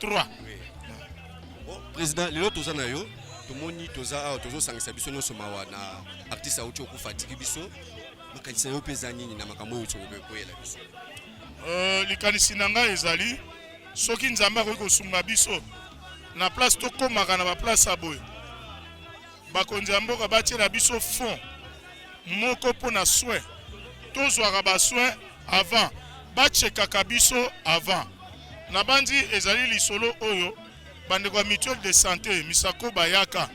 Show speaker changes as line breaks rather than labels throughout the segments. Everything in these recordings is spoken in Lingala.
3 bon président lelo toza na yo tomoni toza awa tozosangisa biso nyonso mawa na artiste auti okufa atiki biso makanisi na yo mpe eza nini na makambo oyo tokoyela biso euh,
likanisi na ngai ezali soki nzambe akoki kosunga biso na place tokomaka na baplace ya boye bakonzi ya mboka batiela biso fond moko mpo na soin tozwaka basoin avant bachekaka biso avant nabanzi ezali lisolo oyo bandeko ya mutuelle de santé misako bayaka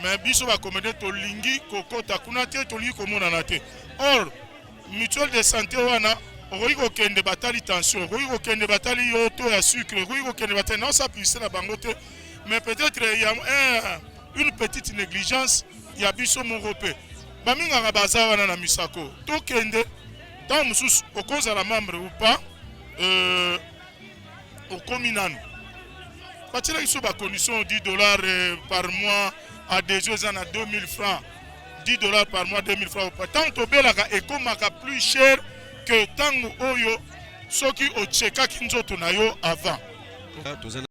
me biso bakomede tolingi kokota kuna te tolingi komonana te or mutuelle de santé wana okoki kokende batali tension okoki kokende batali yo to ya sucre okoki kokende batali naosapisela bango te mais peut-être ya eh, une petite négligence ya biso moko mpe baminganga baza wana na misako tokende ntango mosusu okozala membre ou pas euh, okomi nanu batiela biso bacondition 10 dollars euh, par mois adesio eza na 2000 francs 10 dollars par mois 2000 francs opa ntango tobelaka ekomaka plus cher que ntango oyo soki ochekaki nzoto na yo avant